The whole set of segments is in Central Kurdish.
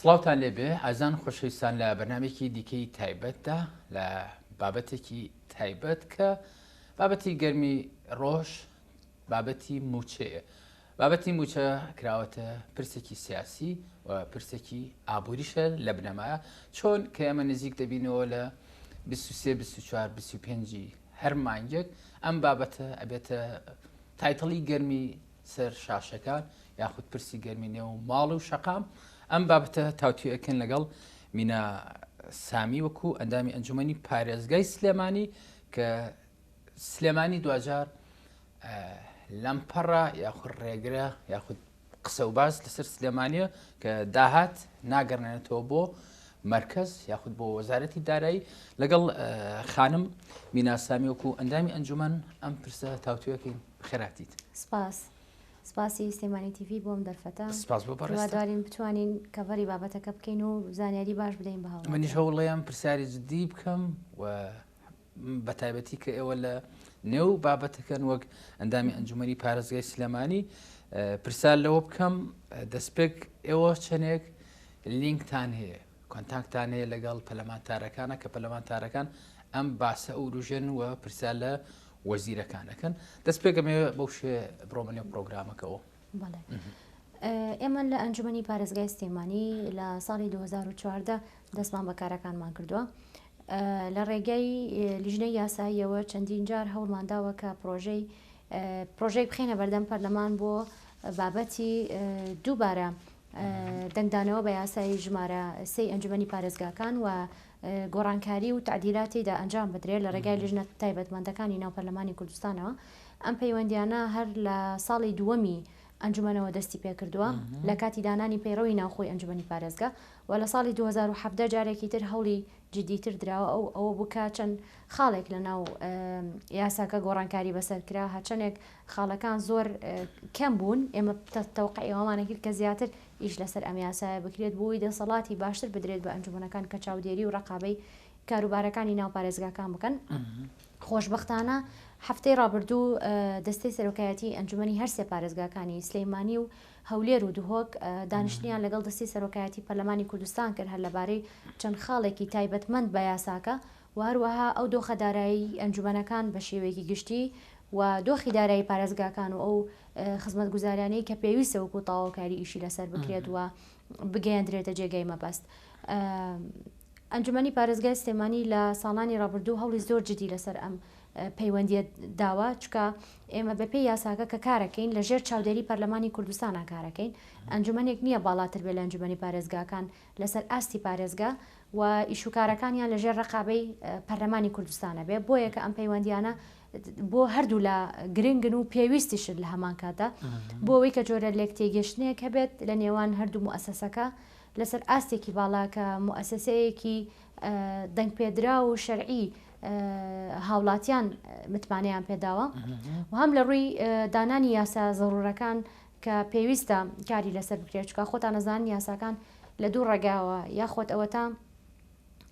سڵاوتان لێ بێ ئازان خۆشەویستان لە بەرنامێکی دیکەی تایبەتدا لە بابەتێکی تایبەت کە بابەتی گەرمی ڕۆژ بابەتی موچەیە بابەتی موچە کراوەتە پرسێکی سیاسی و پرسێکی ئابووریشە لە بنەمایە چۆن کە ئێمە نزیک دەبینەوە لە 23 هەر مانگێک ئەم بابەتە ئەبێتە تایتڵی گەرمی سەر شاشەکان یاخود پرسی گەرمی نێو ماڵ و شەقام ئەم بابەتە تاوتوێکن لەگەڵ مینا سامی وەکو ئەندامی ئەنجومی پارێزگای سلێمانی کە سلێمانی دوجار لەم پەڕە یاخود ڕێگرە یاخود قسە و باس لەسەر سلێمانە کە داهات ناگەڕێنێتەوە بۆ مرکز یاخود بۆ وەزارەتی دارایی لەگەڵ خانم میناسامی وەکو ئەندامی ئەنجومەن ئەم پرسە تاوتوێکین خێراتیت. سپاس سپاسی سلێمانی تیڤی بۆ ئەم دەرفەتە. سپاس بۆ بەڕێزتان. هیوادارین بتوانین کەڤەری بابەتەکە بکەین و زانیاری باش بدەین بە هاوڵاتیان. منیش هەوڵەیەم پرسیاری جدی بکەم و بە تایبەتی کە ئێوە لە نێو بابەتەکەن وەک ئەندامی ئەنجومەنی پارێزگای سلێمانی پرسیار لەوە بکەم دەستپێک ئێوە چەندێک لینکتان هەیە کۆنتاکتان هەیە لەگەڵ پەلەمانتارەکانە کە پەلەمانتارەکان ئەم باسە ئەوروژێن و پرسیار لە وەزیرەکان ئەکەن دەست پێ گەمەوێ بەو شێ بڕۆمە نێو پرۆگرامەکەەوە ئێمە لە ئەنجومی پارێزگای سلێمانی لە ساڵی 2014 دەستمان بە کارەکانمان کردووە لە ڕێگەی لیژنە یاساییەوە چەندین جار هەوڵمانداوە کە پرۆژەی پرۆژەی بخێنە بەردەم پەرلەمان بۆ بابەتی دووبارە دەنگدانەوە بە یاسای ژمارە سی ئەنجومی پارێزگاکان و گۆڕانکاری و تەعدیلات تێیدا ئەنجام بدرێت لە ڕێگای لیژنە تایبەتمەندەکانی ناو پەرلەمانی کوردستانەوە، ئەم پەیوەندییانە هەر لە ساڵی دووەمی ئەنجومەنەوە دەستی پێکردووە لە کاتی دانانی پەیڕەوی ناوخۆی ئەنجومەنی پارێزگا و لە ساڵی دوو هەزار و حەڤدە جارێکی تر هەوڵی جدیتر دراوە ئەو ئەوە بوو کە چەند خاڵێک لە ناو یاساکە گۆڕانکاری بەسەر کرا هەرچەندێک خاڵەکان زۆر کەم بوون ئێمە تەوقعی ئەومانە کرد کە زیاتر ئیش لەسەر ئەم یاسایە بکرێت بۆوەی دەسەڵاتی باشتر بدرێت بە ئەنجومەنەکان کە چاودێری و ڕەقابەی کاروبارەکانی ناو پارێزگاکان بکەن خۆشبەختانە هەفتەی ڕابردوو دەستەی سەرۆکایەتی ئەنجومی هەرسێ پارێزگاکانی سلەیمانی و هەولێر و دهۆک دانیشتنیان لەگەڵ دەستی سەرۆکایەتی پەرلەمانی کوردستان کرد هەر لەبارەی چەند خاڵێکی تایبەتمەند بە یاساکە و هەروەها ئەو دۆخە دارایی ئەنجومەنەکان بە شێوەیەکی گشتی و دۆخی دارایی پارێزگاکان و ئەو خزمەتگوزاریانەی کە پێویستە وەکو تاواوکاری ئیشی لەسەر بکرێت و بگەیەندرێتە جێگای مەبەست. ئەنجومەنی پارێزگای سلێمانی لە ساڵانی ڕابردوو هەوڵی زۆر جدی لەسەر ئەم پەیوەندیە داوە چکە ئێمە بەپێی یاساکە کە کارەکەین لە ژێر چاودێری پەرلەمانی کوردستانە کارەکەین ئەنجومەنێک نییە باڵاتر بێ لە ئەنجومەنی پارێزگاکان لەسەر ئاستی پارێزگا و ئیشوکارەکانیان لەژێر رەقابەی پەرلەمانی کوردستان ئەبێ، بۆیە کە ئەم پەیوەندییانە بۆ هەردوولا گرنگن و پێویستیشن لە هەمانکاتدا بۆ ئەوەی کە جۆرە لێکتێگەیشتنێک هەبێت لە نێوان هەردوو موئەسەسەکە لەسەر ئاستێکی باڵا کە موئەسەسەیەکی دەنگپێدراو و شەرعی هاوڵاتیان متمانەیان پێداوە و هەم لە رووی دانانی یاسا زەروورەکان کە پێویستە کاری لەسەر بکرێت چکە خۆتان نەزان یاساکان لە دوو ڕێگاوە یاخۆت ئەوەتا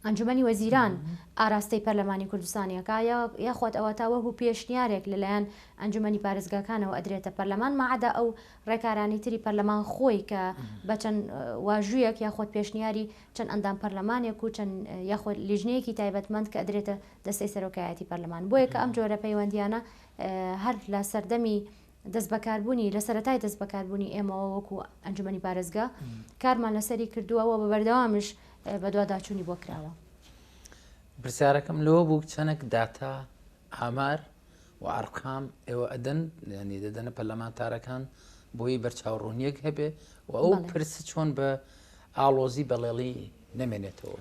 ئەنجومی وەزیران ئاراستەی پەرلەمانی کوردستانیەکە یاخوات ئەوە تا وەکو پێشنیارێک لەلایەن ئەنجومی پارێزگاکانەوە ئەدرێتە پەرلەمان مەعدا ئەو ڕێکارانی تری پەرلەمان خۆی کە بەچەند واژوویەک یاخود پێشنیاری چەند ئەندام پەرلەمانێک و چەند یاخود لیژنەیەکی تایبەتمەند کە ئەدرێتە دەستەی سەرۆکایەتی پەرلەمان بۆیە کە ئەم جۆرە پەیوەندیانە هەر لە سەردەمی دەستبەکاربوونی، لە سەرەتای دەستبەکاربوونی ئێمەوە وەکو ئەنجومەنی پارێزگا کارمان لەسەری کردووە و بە بەردەوامیش بەدواداچوونی بۆ کراوە. پرسیارەکەم لەوە بوو چەنێک داتا ئامار و ئارقام ئێوە ئەدەن ینی دەدەنە پەرلەمانتارەکان بۆی بەرچاوڕوونیەک هەبێ و ئەو پرس چۆن بە ئاڵۆزی بەڵێڵی نەمێنێتەوە.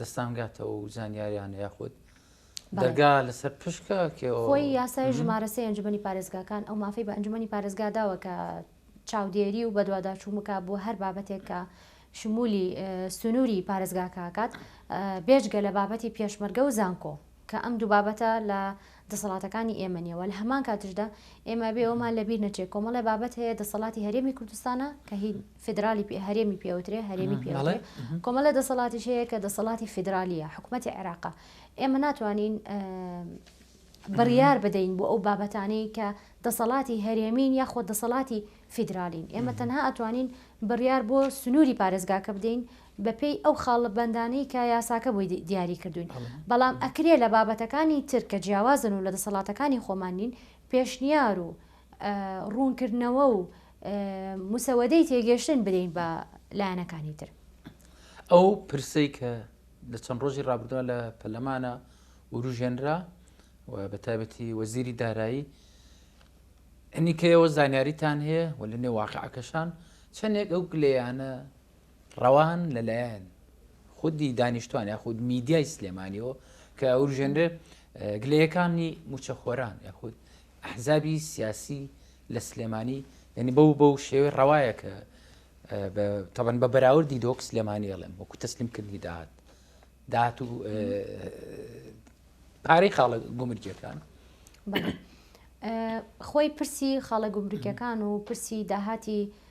دەستان گاتە و زانیاریانە یاخود دەرگا لەسەر پشکە خۆی یاسای ژمارە سێ ئەنجومەنی پارێزگاکان ئەو مافی بە ئەنجومەنی پارێزگا داوە کە چاودێری و بەدواداچوو بکە بۆ هەر بابەتێک کە شمولی سنووری پارێزگاکەکات بێژگە لە بابەتی پێشمەرگە و زانکۆ کە ئەم دوو بابەتە لە دەسەڵاتەکانی ئێمە نیەوە لە هەمان کاتشدا ئێمە بێ ئەومان لەبیر نەچێت کۆمەڵی بابەت هەیە دەسەڵاتی هەرێمی کوردستانە کە هی فیدرالی پێ هەرێمی پێوترێ هەرێمی پێوترێ کۆمەلە دەسەڵاتیش هەیە کە دەسەڵاتی فیدرالیە حکوومەتی عێراقا ئێمە ناتوانین بڕیار بدەین بۆ ئەو بابەتانەی کە دەسەڵاتی هەرێمین یاخۆ دەسەڵاتی فیدرالین ئێمە تەنها ئەتوانین بڕیار بۆ سنووری پارێزگاکە بدەین بەپێی ئەو خاڵە بەندانەی کە یاساکە بۆی دیاری کردوین بەڵام ئەکرێ لە بابەتەکانی تر کە جیاوازن و لە دەسەڵاتەکانی خۆمانین پێشنیار و ڕوونکردنەوە و مسەوەدەی تێگەشتن بدەین بە لایەنەکانی تر. ئەو پرسەی کە لە چەند ڕۆژی ڕابردووە لە پەلەمانە وروژێنرا و بە تایبەتی وەزیری دارایی ئەنیکەیەوە زانیاریتان هەیە و لە نێواقعەکەشان چەندێک ئەو گلەیانە ڕەوان لەلایەن خودی دانیشتوان یاخود میدیای سلێمانیەوە کە ئەوروژێنرێ گلەیەکانی موچەخۆران یاخود ئەحزابی سیاسی لە سلێمانی یعنی بەو بەو شێوەی ڕەوایە کە تەبەن بە بەراوردی دۆک سلێمانی ئەڵێم وەکو تەسلیم کردنی داهات داهات و پارەی خاڵە گومرجەکان خۆی پرسی خاڵە گومرگەکان و پرسی داهاتی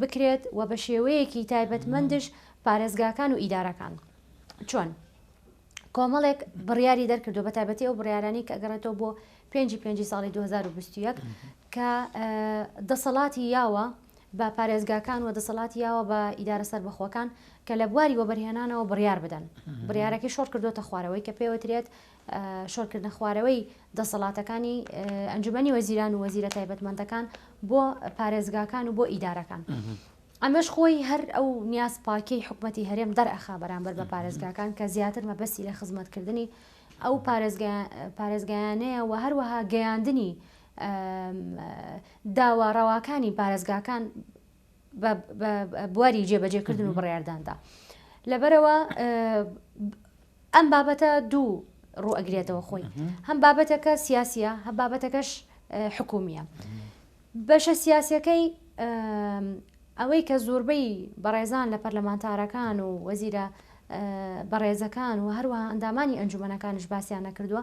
بکرێت و بە شێوەیەکی تایبەتمەندش پارێزگاکان و ئیدارەکان چۆن کۆمەڵێک بڕیاری دەرکردو بە تایبەتی ئەو بڕارانی کە گەڕێتەوە بۆ پێنجی پێنجی ساڵی 2021 کە دەسەڵاتی یاوە بە پارێزگاکان و دەسەڵاتی یاوە بە ئیدارە سەربەخۆکان کە لە بواری وەبەرهێنانەوە بڕیار بدەن بڕارەکەی شۆڕ کردوتە خوارەوەی کە پێوترێت شۆرکردنە خوارەوەی دەسەڵاتەکانی ئەنجومەنی وەزیران و وەزیرە تایبەتمەندەکان بۆ پارێزگاکان و بۆ ئیدارەکان. ئەمەش خۆی هەر ئەو نیاز پاکیی حکومەتی هەرێم دەرئەخا بەرامبەر بە پارێزگاکان کە زیاتر مەبەستی لە خزمەتکردنی ئەو پارێزگایانەیە و هەروەها گەیاندنی داوا ڕەواکانی پارێزگاکان بواری جێبەجێ کردن و بڕارداندا لەبەرەوە ئەم بابەتە دوو ڕوو ئەگرێتەوە خۆی هەم بابەتەکە سیاسیە هە بابەتەکەش حکومیە بەشە سیاسەکەی ئەوەی کە زۆربەی بەڕێزان لە پەرلەمانتارەکان و وەزیرە بەڕێزەکان و هەروە ئەندامانی ئەنجومەکانش باسییان نەکردووە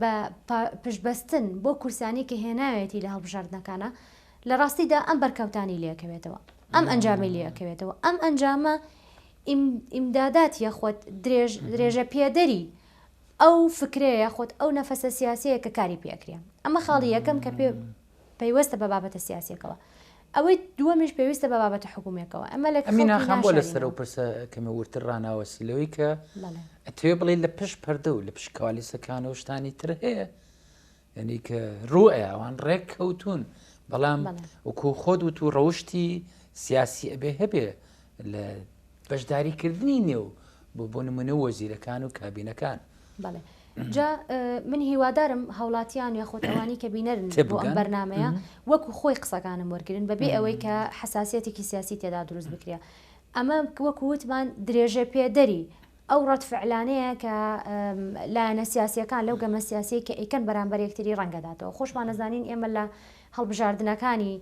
بە پشتبەستن بۆ کورسانی کە هێناوێتی لە هەڵبژاردنەکانا لە ڕاستیدا ئەم بەرکەوتانی لەکەوێتەوە ئەم ئەنجامی لەکەوێتەوە ئەم ئەنجامە ئیمدادات یاخود درێژ درێژە پێدەری ئەو فکرەیە خۆت ئەو نەفەسە سیاسەیە کە کاری پێکرێ ئەمە خاڵی یەکەم کە پێ پەیوەستە بە بابەتە سیاسیەکەوە ئەوەی دووەمیش پێویستە بە بابەتە حکوومەکەوە ئەمە لە ئەمیناخان بۆ لە سەر و پرسە کەمە ورتر ڕناوەسی لەوەی کە ئەتوێ بڵێ لە پشت پەردە و لە پشکوالیسەکان و شتانی تر هەیە یعنی کە ڕوئە ئەوان ڕێک کەوتون بەڵام وکو خۆت وت و ڕەوشی سیاسی ئەبێ هەبێ لە بەشداری کردنی نێو بۆ بۆ نمونە وەزیرەکان و کابینەکان. بەڵێ جا من هیوادارم هاوڵاتیان یاخۆت ئەوانی کە بینەرن بۆ ئەم بەرنمەیە وەکو خۆی قسەکانم وەرگن بەبێ ئەوەی کە حساسەتێکی سیاسی تێدا دروست بکرێ ئەمە وەکو وتمان درێژە پێدەری ئەو ڕەتفعلانەیە کە لایەنە سیاسەکان لەو گەمە سیاسی کە ئیکەن بەرامبەر یەکتری ڕەنگەداتەوە خۆشمان نەزانین ئێمە لە هەڵبژاردنەکانی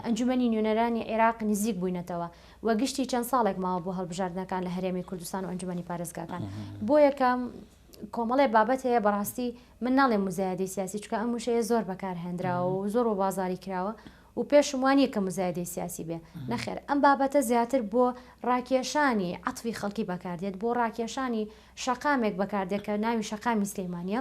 ئەنجومەنی نوێنەرانی عێراق نزیک بووینەتەوە و گشتی چەند ساڵێک ماوە بۆ هەڵبژاردنەکان لە هەرێمی کوردستان و ئەنجومەنی پارێزگاکان بۆ یەکەم کۆمەڵێ بابەت هەیە بەڕاستی من ناڵێ مزایدەی سیاسی چکە ئەم وشەیە زۆر بەکار هێنراوە و زۆر و بازاری کراوە و پێشم وانە کە مزایدەی سیاسی بێ نەخێر ئەم بابەتە زیاتر بۆ ڕاکێشانی عەتفی خەڵکی بەکاردێت بۆ ڕاکێشانی شەقامێک بەکاردێت کە ناوی شەقامی سلەیمانە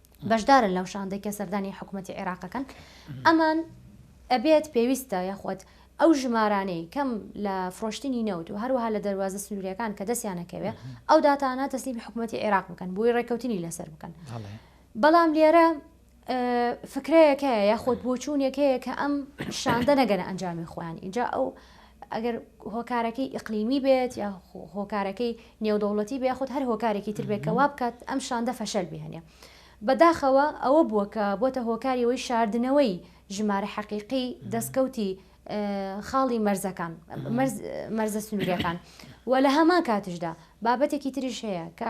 بەشدارن لەو شاندەی کە سەردانی حکوومەتی عێراقەکەن ئەمان ئەبێت پێویستە یاخود ئەو ژمارانەی کەم لە فرۆشتنی نەوت و هەروەها لە دەواازە سنوورەکان کە دەستیانەکەوێ ئەو داتانە تەسلیمی حکوومەتتی عێراق بکەن بۆی ڕێککەوتنی لەسەر بکەن بەڵام لێرە فکرەیەکەیە یاخود بۆچوونەکەیە کە ئەم شاندە نەگەنە ئەنجامی خۆیان اینجا ئەو ئەگەر هۆکارەکەی ئیقلیمی بێت یا هۆکارەکەی نێودەوڵەتی بێ یاخود هەر هۆکارێکی تر بێت کە وا بکات ئەم شاندە فەشەل بهێنێ. بەداخەوە ئەوە بووە کە بۆتە هۆکاری ئەوەی شاردنەوەی ژمارە حەقیقی دەستکەوتی خاڵی مەرزەکان، مەرزە سنوورییەکان و لە هەمان کاتیشدا بابەتێکی تریش هەیە کە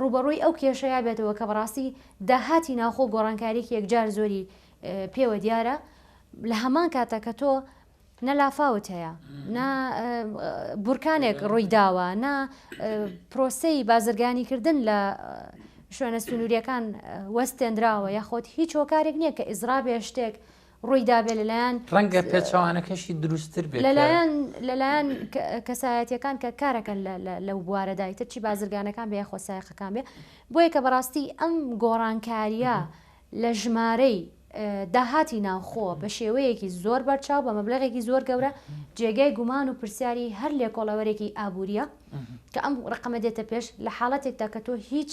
ڕووبەڕووی ئەو کێشەیە بێتەوە کە بەڕاستی داهاتی ناوخۆ گۆڕانکاریێکی یەکجار زۆری پێوە دیارە لە هەمان کاتە کە تۆ نە لافاوت هەیە نە بورکانێک ڕووی داوە نە پرۆسەی بازرگانیکردن لە شوێنە سنووریەکان وەستێنراوە یاخۆت هیچ هۆکارێک نییە کە ئیزرا بێ شتێک ڕووی دابێت لەلایەن ڕەنگە پێچەوانەکەشی دروستتر بێت لەلایەن لەلایەن کەسایەتیەکان کە کارەکەن لەو بوارەدا ئیتر چی بازرگانەکان بێ یاخۆ سایەقەکان بێ بۆیە کە بەڕاستی ئەم گۆڕانکاریە لە ژمارەی داهاتی ناوخۆ بە شێوەیەکی زۆر بەرچاو بە مەبلغێکی زۆر گەورە جێگای گومان و پرسیاری هەر لێکۆڵەوەرێکی ئابووریە کە ئەم ڕقەمە دێتە پێش لە حاڵەتێکدا کە تۆ هیچ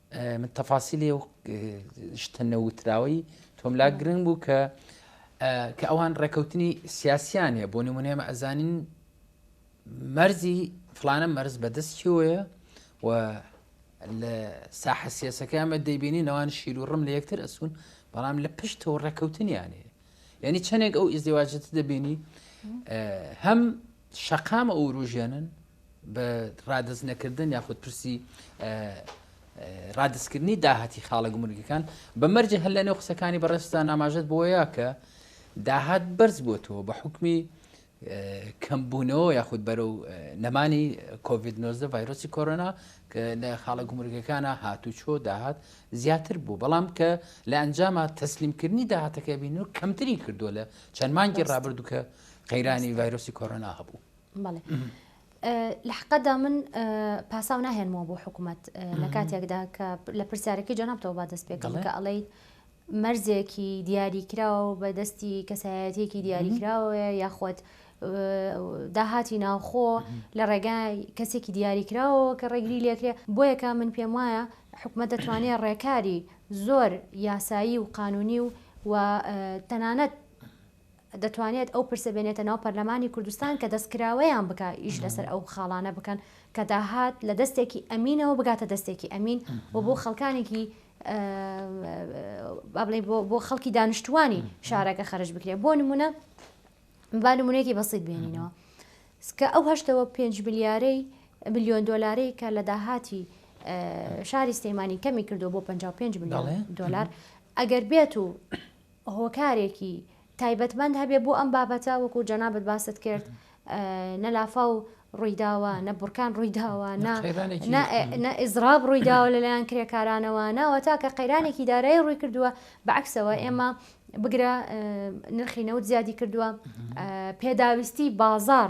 من تەفاسیلی و شتە نەوتراوەی تۆم لا گرنگ بوو کە کە ئەوان ڕێکەوتنی سیاسیان هەیە بۆ نمونێمە ئەزانین مەرزی فلانە مەرز بەدەست چیۆیە و لە ساحە سیاسەکەمە دەیبینی نەوان شیر و ڕم لە یەکتر ئەسون بەڵام لە پشتەوە ڕێکەوتنیانێ یعنی چەندێک ئەو ئیزدیواجت دەبینی هەم شەقامە ئووروژێنن بە ڕادەست نەکردن یاخود پرسی ڕادستکردنی داهاتی خاڵە گومرگەکان بە مەرجە هەر لەنێو قسەکانی بەڕێستان ئاماژەت بۆیە کە داهات بەرز بۆتەوە بە حکمی کەمبوونەوە یاخود بەرە و نەمانی کۆVید 19 ڤایرۆسی کۆرۆنا کە لە خاڵە گومرگەکانە هاتوو چۆ داهات زیاتر بوو بەڵام کە لە ئەنجامە تەسلیمکردنی داهاتەکە بین و کەمتری کردو لە چەند مانگی ڕابردووکە قەیرانی ڤایرۆسی کۆرۆنا هەبوو. بەڵێ لە حقدا من پاساو ناهێنمەوە بۆ حکوومەت لە کاتێکدا کە لە پرسیارەکەی جەنابتەوە با دەست پێکەڵ کە ئەڵیت مەرزێکی دیاریکراوە و بە دەستی کەسایەتێکی دیاریکراوە یاخود داهاتی ناوخۆ لە ڕێگای کەسێکی دیاریکراوە کە ڕێگری لێکرێ بۆ یەکە من پێم وایە حکومەت دەتوانێت ڕێکاری زۆر یاسایی و قانونی و و تەنانەت دەتوانێت ئەو پرسە بێنێتە ناو پەرلەمانی کوردستان کە دەستکراوەیان بکا ئیش لەسەر ئەو خاڵانە بکەن کە داهات لە دەستێکی ئەمینەوە بگاتە دەستێکی ئەمین و بۆ خەڵکانێکی با بڵێ بۆ خەڵکی دانیشتوانی شارەکە خەرج بکرێت بۆ نمونە با نمونەیەکی بەسیت بێنینەوە کە ئەو هەشتەوە پێنج ملیارەی ملیۆن دۆلارەی کە لە داهاتی شاری سلەیمانی کەمی کردو بۆ 55 ملیۆن دۆلار ئەگەر بێت و هۆکارێکی تایبەتمەند هەبێ بۆ ئەم بابەتە وەکو جەنابت باست کرد نە لافاو ڕوویداوە نە بڕکان ڕوویداوە نە ئیزراب ڕوویداوە لەلایەن کرێکارانەوە ناوە تا کە قەیرانێکی دارایی ڕووی کردووە بەعکسەوە ئێمە بگرە نرخی نەوت زیادی کردووە پێداویستی بازار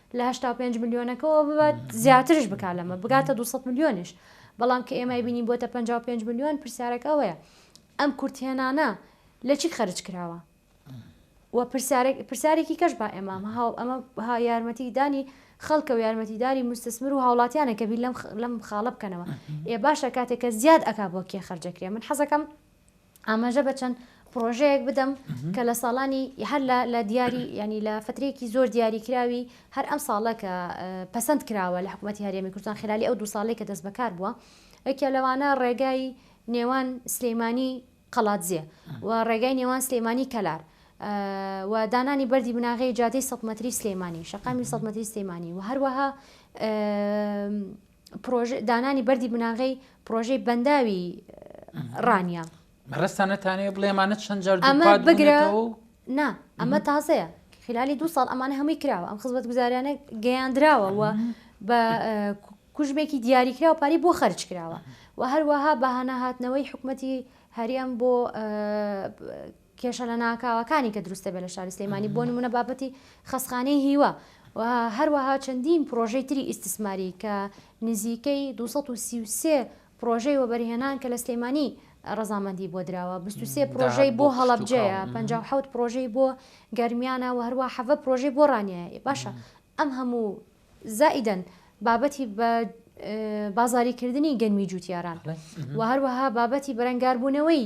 لە هەشتا و پێنج ملیۆنەکەەوە ببات زیاترش بکات لەمە بگاتە 200 ملیۆنیش بەڵام کە ئێمای بینی بۆتە 55 ملیۆن پرسیارەکە ئەوەیە ئەم کورتێنانە لە چی خەرج کراوە و پرسیارێکی کەش با ئێمام هاو ئەمە ها یارمەتی دانی خەڵکە و یارمەتیداری مستەسمر و هاوڵاتیانە کە بی لەم خاڵە بکەنەوە ئێ باشە کاتێکە زیاد ئەک بۆ کێ خەرجەکرێ من حەزەکەم ئاماژە بە چەند پرۆژەیەک بدەم کە لە ساڵانی هەر لە دیاری ینی لە فترێکی زۆر دیاریکراوی هەر ئەم ساڵە کە پەسەند کراوە لە حکوومەت هەرێمی کوردستان خلالی ئەو دو ساڵێک کە دەست بەکار بووە ئەکە لەوانە ڕێگای نێوان سلەیمانی قەڵاتزیێ و ڕێگای نێوان سلەیمانی کەلار و دانانی بەری بناغی جادەی سەمەتری سلەیمانی شقامی سەمەتری سلەیمانی و هەروەها پرۆژە دانانی بەردی بناغەی پرۆژەی بەنداوی ڕانیە مەرەستانەتانەیە بڵێمانە چەند جار ئەمە بگرە نا ئەمە تازەیە خلالی دو ساڵ ئەمانە هەمووی کراوە ئەم خزمەت گوزاریانە گەیاندراوە و بە کوژمێکی دیاریکرا و پاری بۆ خەرج کراوە و هەروەها بەهانە هاتنەوەی حکوومەتی هەریم بۆ کێشە لەناکاوەکانی کە دروست دەبێت لە شاری سلێمانی بۆ نموونە بابەتی خەستخانەی هیوا و هەروەها چەندین پرۆژەی تری ئیستسماری کە نزیکەی دوو سەد و سی و سێ پرۆژەی وەبەرهێنان کە لە سلێمانی ڕەزامەندی بۆ دراوە بیست و سێ پرۆژەی بۆ هەڵەبجەیە پەنجا و حەوت پرۆژەی بۆ گەرمیانە و هەروەها حەڤە پرۆژەی بۆ ڕانیەیە ئێ باشە ئەم هەموو زائیدەن بابەتی بە بازاریکردنی گەنمی جووتیاران و هەروەها بابەتی بەرەنگاربوونەوەی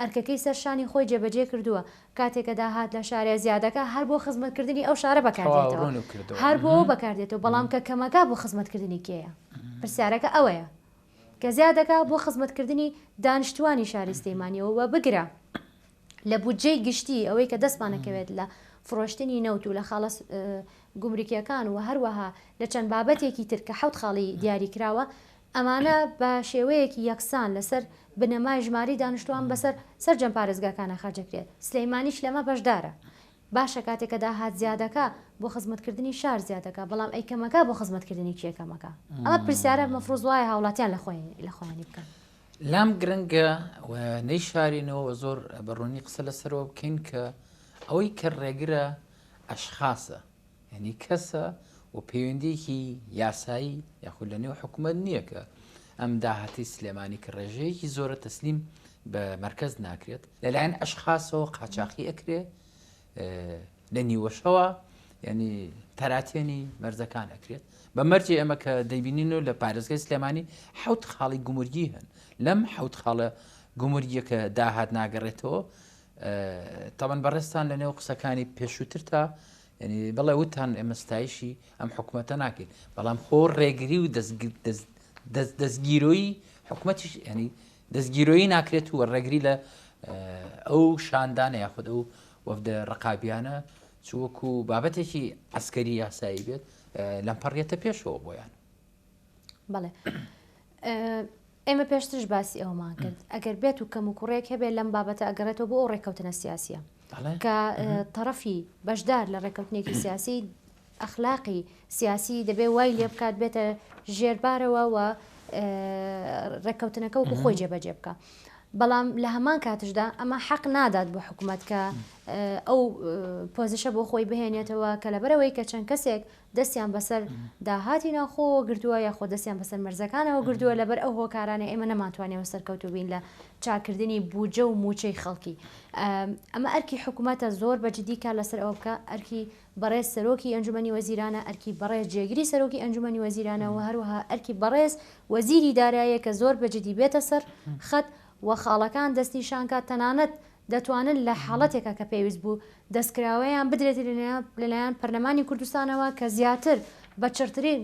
ئەرکەکەی سەر شانی خۆی جێبەجێ کردووە، کاتێ کە داهات لە شارێ زیادەکا هەر بۆ خزمەت کردنی ئەو شارە بەکار دێتەوە، هەر بۆ ئەوە بەکار دێتەوە، بەڵام کە کەمەکا بۆ خزمەت کردنی کێیە؟ پرسیارەکە ئەوەیە. کە زیاد دەکا بۆ خزمەت کردنی دانیشتووانی شاری سلێمانیەوە و بگرە لە بودجەی گشتی ئەوەی کە دەستمان ئەکەوێت لە فرۆشتنی نەوت و لە خاڵە گومرکیەکان و هەروەها لە چەند بابەتێکی تر کە حەوت خاڵی دیاری کراوە ئەمانە بە شێوەیەکی یەکسان لەسەر بنەمای ژماری دانیشتوان بەسەر سەرجەم پارێزگاکانا خەرج دەکرێت، سلێمانیش لەمە بەشدارە. باشە کاتێ کە داهات زیادەکا بۆ خزمەتکردنی شار زیادەکا بەڵام ئەی کەمەکا بۆ خزمەتکردنی کێ کەمەکا؟ ئەمە پرسیارە مەفروز وایە هاوڵاتیان لە خۆیانی بکەن. لام گرنگە و نەیشارینەوە و زۆر بە ڕوونی قسە لەسەرەوە بکەین کە ئەوەی کە ڕێگرە ئەشخاسە. یانی کەسە و پەیوەندیەکی یاسایی یاخود لە نێو حکومەت نییە کە ئەم داهاتی سلێمانی کە ڕێژەیەکی زۆرە تەسلیم بە مەرکەز ناکرێت لەلایەن ئەشخاصەوە قاچاخی ئەکرێ لە نیوەشەوە یعنی تەراتێنی مەرزەکان ئەکرێت بە مەرجی ئەمە کە دەبینین و لە پارێزگای سلێمانی حوت خاڵی گومرگی هەن لەم حوت خاڵە گومرگیەکە داهات ناگەڕێتەوە تەبەن بەڕێزتان لەنێو قسەکانی پێشووترتا ینی بڵێ وتان ئێمە ستایشی ئەم حکوومەتە ناکەین بەڵام خۆ ڕێگری و دەستگیرۆیی حکوومەتیش ینی دەستگیرۆیی ناکرێت و ڕێگری لە ئەو شاندانە یاخود ئەو وەفدە ڕقابیانە چوەکو بابەتێکی ئەسکەری یاسایی بێت لەمپەڕێتە پێشەوە بۆیان بەڵێ ئێمە پێشترش باسی ئەوەمان کرد، ئەگەر بێت و کەموکوڕێک هەبێت لەم بابەتە ئەگەڕێتەوە بۆ ئەو ڕێککەوتنە سیاسییە کە تەڕەفی بەشدار لە ڕێککەوتنێکی سیاسی ئەخلاقی سیاسی دەبێ وای لێ بکات بێتە ژێربارەوە و ڕێککەوتنەکە وەکو خۆی جێبەجێ بکە. بەڵام لە هەمان کاتشدا ئەمە حەق نادات بۆ حکوومەت کە ئەو پۆزیشە بۆ خۆی بهێنێتەوە کە لەبەرەوەی کە چەند کەسێک دەستیان بەسەر داهاتی ناوخۆوە گرتووە یاخۆ دەستیان بەسەر مەرزەکانەوە گرتووە لەبەر ئەو هۆکارانەی ئێمە نەمانتوانیەوە سەرکەوتوو بین لە چاکردنی بودجە و موچەی خەڵکی ئەمە ئەرکی حکوومەتە زۆر بە جدی کار لەسەر ئەوە بکە ئەرکی بەڕێز سەرۆکی ئەنجومی وەزیرانە ئەرکی بەڕێز جێگری سەرۆکی ئەنجومی وەزیرانەوە هەروها ئەرکی بەڕێز وەزیری دارایە کە زۆر بەجددی بێتە سەر خەت و خاڵەکان دەستنیشانکە تەنانەت دەتوانن لە حاڵەتێکا کە پێویست بوو دەستکراوەیان بدرێت لەلایەن پەرلەمانی کوردستانەوە کە زیاتر بە چڕترین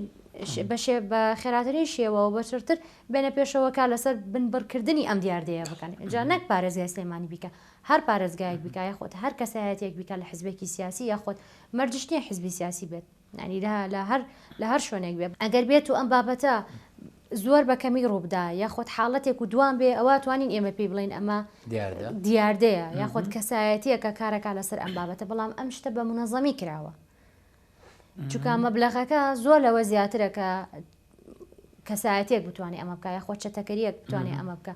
بە خێراترین شێوە و بە چڕتر بێنە پێشەوە کار لەسەر بنبڕکردنی ئەم دیاردەیە بکەن جا نەک پارێزگای سلێمانی بیکە هەر پارێزگایەک بیکە یاخود هەر کەسایەتێک بیکە لە حزبێکی سیاسی یاخود مەرجیش نییە حزبی سیاسی بێت یانی لە لە هەر لە هەر شوێنێک بێ ئەگەر بێت و ئەم بابەتە زۆر بە کەمی ڕووبدا یاخود حاڵەتێک و دوام بێ ئەوە توانین ئێمە پێی بڵێن ئەمە دیاردەیە یاخود کەسایەتیەکە کارەکە لەسەر ئەم بابەتە بەڵام ئەم شتە بە منەزەمی کراوە چکە مەبلغەکە زۆر لەوە زیاترەکە کەسایەتیەک بتوانێ ئەمە بکە یاخۆ چەتەکەریەک بتوانێ ئەمە بکە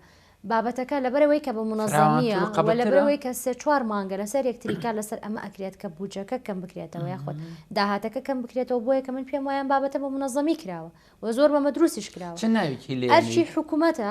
بابەتەکە لەبەرەوەی کە بە منەزەمیە و لەبەرەوەی کە سێ چوار مانگە لەسەر یەکتریکا لەسەر ئەمە ئەکرێت کە بوجەکە کەم بکرێتەوە یاخود داهاتەکە کەم بکرێتەوە بۆیە کە من پێم وایان بابەتە بە منەزەمی کراوە و زۆر بەمە دروستیش کراوە ئەرچی حکوومەتە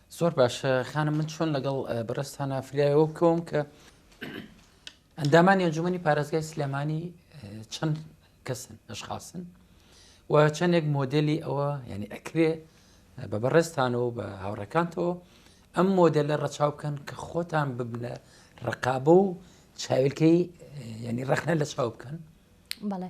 زۆر باش خانم من چۆن لەگەڵ بەڕستانە فریایەوە بکەوم کە ئەندامانی ئەنجومی پارێزگای سلێمانی چەند کەسن ئەشخاصن و چەندێک مۆدلی ئەوە یعنی ئەکرێ بە بەڕێستانەوە بە هاوڕەکانتەوە ئەم مۆدل لە ڕەچاو بکەن کە خۆتان ببنە ڕقابە و چاویلکەی ینی ڕخنە لە چاو بکەن بەڵێ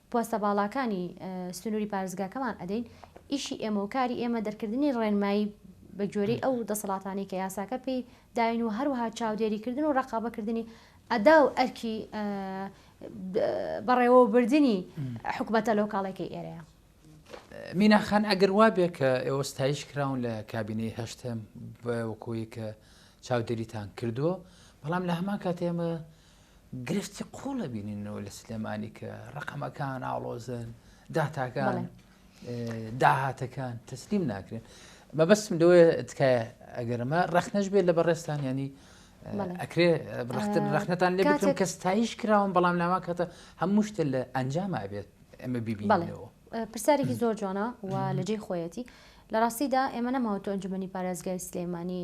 پۆستە باڵاکانی سنوری پارێزگاکەمان ئەدەین، ئیشی ئێمە و کاری ئێمە دەرکردنی ڕێنمایی بە گوێرەی ئەو دەسەڵاتانەی کە یاساکە پێی داین و هەروەها چاودێری کردن و ڕقابە کردنی ئەدا و ئەرکی بەڕێوەبردنی حکوومەتە لەو کاڵێکی ئێرەیە. میناخان ئەگەر وابێ کە ئێوە ستایش کراون لە کابینەی هەشتم وەکۆی کە چاودێریتان کردووە بەڵام لە هەمان کاتێمە گرفتی قوڵ بینینەوە لە سلێمانی کە ڕقەمەکان ئاڵۆزن داتاکان داهاتەکان تەسلیم ناکرێن مەبەستم لەوەیە تکایە ئەگەرمە ڕخنەش بێت لە بەڕێستان ینی ئەکرێ ڕختن ڕخنەتان لێ بکەم کە ستایش کراوم بەڵام ناوا کاتە هەموو شتە لە ئەنجام ئابێت ئەمە بیبیڵەوە پرسیارێکی زۆر جوانە و لە جێی خۆیەتی لە ڕاستیدا ئێمە نەماوە تۆ ئەنجومی پارێزگای سلێمانی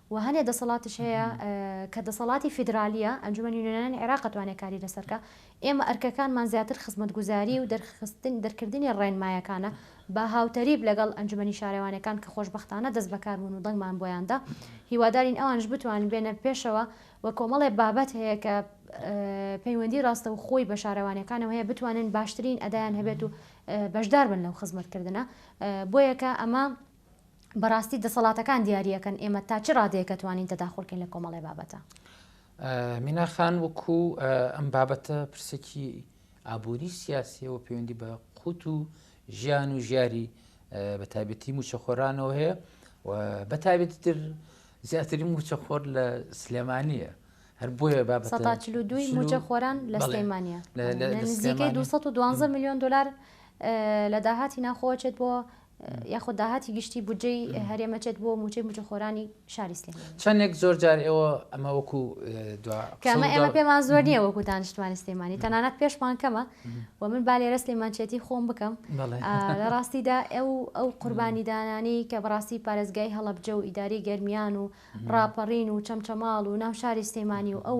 و هەنێ دەسەڵاتیش هەیە کە دەسەڵاتی فیدرالیە، ئەنجومەنی نوێنەرانی عێراق ئەتوانێ کاری لەسەر کا، ئێمە ئەرکەکانمان زیاتر خزمەتگوزاری و دەرخستن دەرکردنی ڕێنمایەکانە بە هاوتەریب لەگەڵ ئەنجومەنی شارەوانیەکان کە خۆشبەختانە دەست بەکار بوون و دەنگمان بۆیان دا، هیوادارین ئەوانیش بتوانن بێنە پێشەوە و کۆمەڵێ بابەت هەیە کە پەیوەندی ڕاستەوخۆی بە شارەوانیەکانەوە هەیە بتوانن باشترین ئەدایان هەبێت و بەشدار بن لەو خزمەتکردنە، بۆیە کە ئەمە بەڕاستی دەسەڵاتەکان دیاریەکەن ئێمە تا چ ڕادەیەکە توانین تەداخلکەین لە کۆمەڵی بابەتە میناخان وەکو ئەم بابەتە پرسێکی ئابووری سیاسیەوە پەیوەندی بە قوت و ژیان و ژیاری بە تابەتی موچەخۆرانەوە هەیە و بە تابێتی تر زیاتری موچە خۆر لە سلێمانە هەر بۆیە با دوی موچە خۆران لە سلێمانە نزیکەی 212 میلیۆن دلار لە داهاتی ناخۆچێت بۆ یاخود داهاتی گشتی بودجەی هەرێم ئەچێت بۆ موچەی مجەخۆرانی شاری سلێمانی. چەندێک زۆر جار ئێوە ئەمە وەکو دوا قسە و دوا. کە ئێمە پێمان زۆر نییە وەکو دانیشتوانی سلێمانی تەنانەت پێشمان کەمە و من با لێرە سلێمانچێتی خۆم بکەم لە ڕاستیدا ئێو ئەو قوربانیدانانی کە بەڕاستی پارێزگای هەڵەبجە و ئیدارەی گەرمیان و ڕاپەڕین و چەمچەماڵ و ناو شاری سلێمانی و ئەو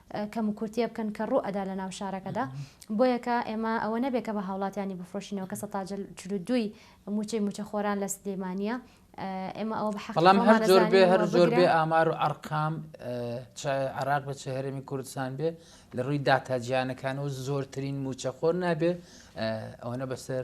کەموکورتیە بکەن کە ڕوو ئەدا لە ناو شارەکەدا بۆیە کە ئێمە ئەوە نەبێ کە بە هاوڵاتیانی بفرۆشینەوە کە سەتا جل چل و دووی موچەی موچە خۆران لە سلێمانیە ئێمە ئەوە بە حەقڵام بەڵام هەر زۆر بێ هەر زۆر بێ بەگرە. ئامار و ئەرقام اه، چای عراق بە چه هەرێمی کوردستان بێ لە ڕووی داتا جیانەکانەوە زۆرترین موچەخۆر نابێ اه، ئەوەنە بەسەر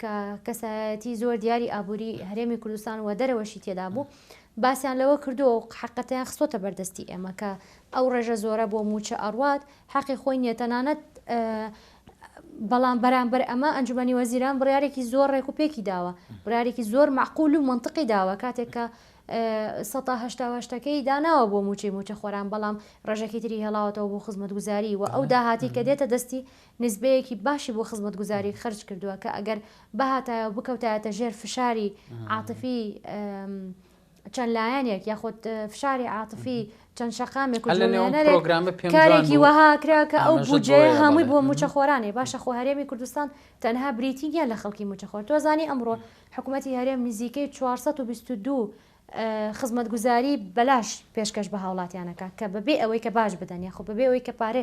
کە کەسایەتی زۆر دیاری ئابووری هەرێمی کوردستان و دەرەوەشی تێدا بوو، باسیان لەوە کردووە و حەقەتەیان خستۆتە بەردەستی ئێمە کە ئەو ڕێژە زۆرە بۆ مووچە ئەڕوات، حەقی خۆی نییە، تەنانەت بەڵام بەرامبەر ئەمە ئەنجومەنی وەزیران بڕیارێکی زۆر ڕێک و پێکی داوە، بڕیارێکی زۆر مەعقول و مەنتقی داوە کاتێک کە سەتا هەشتا و هەشت ەکەی داناوە بۆ مووچەی مووچەخۆران، بەڵام ڕێژەکی تری هێڵاوەتەوە بۆ خزمەتگوزاری و ئەو داهاتی کە دێتە دەستی نیسبەیەکی باشی بۆ خزمەتگوزاری خەرج کردووە کە ئەگەر بهاتایە و بکەوتایەتە ژێر فشاری عاتفی چەند لایەنێک یاخود فشاری عاتفی چەند شەقامێک و کارێکی وەها کرا کە ئەو بودجێ هەمووی بۆ موچەخۆرانێ باشە خۆ هەرێمی کوردستان تەنها بریتی یان لە خەڵکی موچەخۆر تۆزانی ئەمڕۆ حکوومەتتی هەرێم نزیکەی 422 خزمەتگوزاری بەلاش پێشکەش بە هاوڵاتیانەکە کە بەبێ ئەوەی کە باش بدەن یاخۆ بەبێ ئەوەی کە پارێ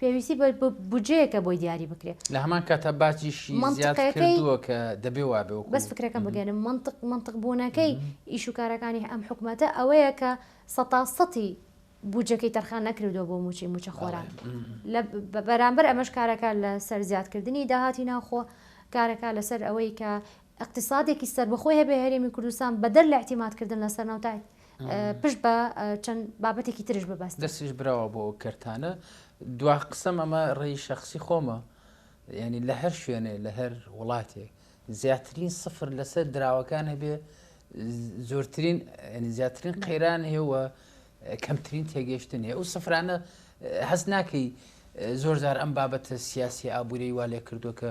پێویستی بە بودجەیەکە بۆی دیاری بکرێت. لە هەمان کاتا باجیشی زیاد کردووە کە دەبێ وا بێ. بەس فکرەکەم بگەێنم، مەنتق مەنتق بوونەکەی ئیش و کارەکانی ئەم حکومەتە ئەوەیە کە سەتا سەتی بودجەکەی تەرخان نەکردووە بۆ مووچەی مووچەخۆران. لە بەرامبەر ئەمەش کارەکە لەسەر زیادکردنی داهاتی ناوخۆ، کارەکە لەسەر ئەوەی کە ئیقتیسادێکی سەربەخۆی هەبێ هەرێمی کوردستان بەدەر لە ئیعتیمادکردن لە سەرنەوت، پشت بە چەند بابەتێکی ترش ببەست دەستیش براوە بۆ کەرتانە دوا قسەم ئەمە ڕێی شخصی خۆمە ینی لە هەر شوێنێ لە هەر وڵاتێک زیاترین سفر لەسەر دراوەکان هەبێ زۆرترین زیاترین قەیران هێوە کەمترین تێگەشتن هەیە ئەو سفرانە هەست ناکەی زۆر زار ئەم بابەتە سیاسی ئابووری وا لێ کردو کە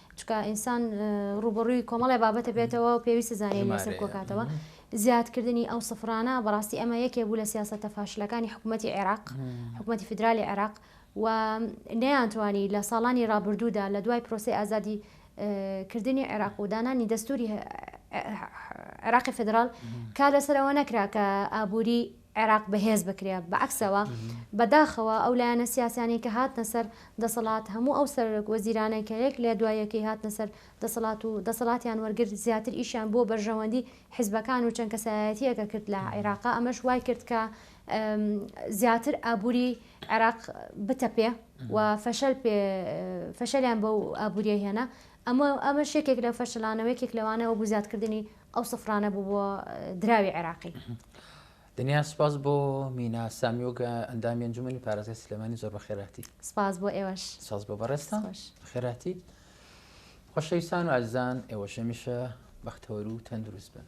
چونکە ئینسان ڕووبەڕووی کۆمەڵێ بابەتە بێتەوە و پێویستە زانین لەسەر کۆکاتەوە زیادکردنی ئەو سفرانە بەڕاستی ئەمە یەکێ بوو لە سیاستە فاشلەکانی حکوومەتتی عێراق حکوومەتتی فیدرالی عێراق و نەیانتوانی لە ساڵانی رابردوودا لە دوای پرۆسی ئازادی کردنی عێراق و دانانی دەستوری عێراقی فدرال کار لەسەرەوە نەکرا کە ئابووری عێراق بەهێز بکرێت، بەعەکسەوە بەداخەوە ئەو لایەنە سیاسیانەی کە هاتنە سەر دەسەڵات هەموو ئەو سەرۆک وەزیرانەی کە یەک لە دوای یەکەی هاتنە سەر دەسەڵات و دەسەڵاتیان وەرگرت زیاتر ئیشیان بۆ بەرژەوەندی حزبەکان و چەند کەسایەتیەکە کرد لە عێراقا ئەمەش وای کرد کە زیاتر ئابووری عێراق بتەپێ و فەشەل پێ فەشەلیان بەو ئابووریە هێنا ئەمە ئەمەش یەکێک لەو فەشلانە و یەکێک لەوانە وەکو زیادکردنی ئەو سفرانە بوو بۆ دراوی عێراقی. دنیا سپاس بۆ مینا سامیۆگ ئەندامی ئەنجومەنی پارێزگای سلێمانی زۆر بەخێراتی سپاس بۆ ئێوەش ساز بۆ بەڕێزتان خوش. خێراتی خۆشەویستان و ئازیزان ئێوەش هەمیشە بەختەوەر و تەندروست بن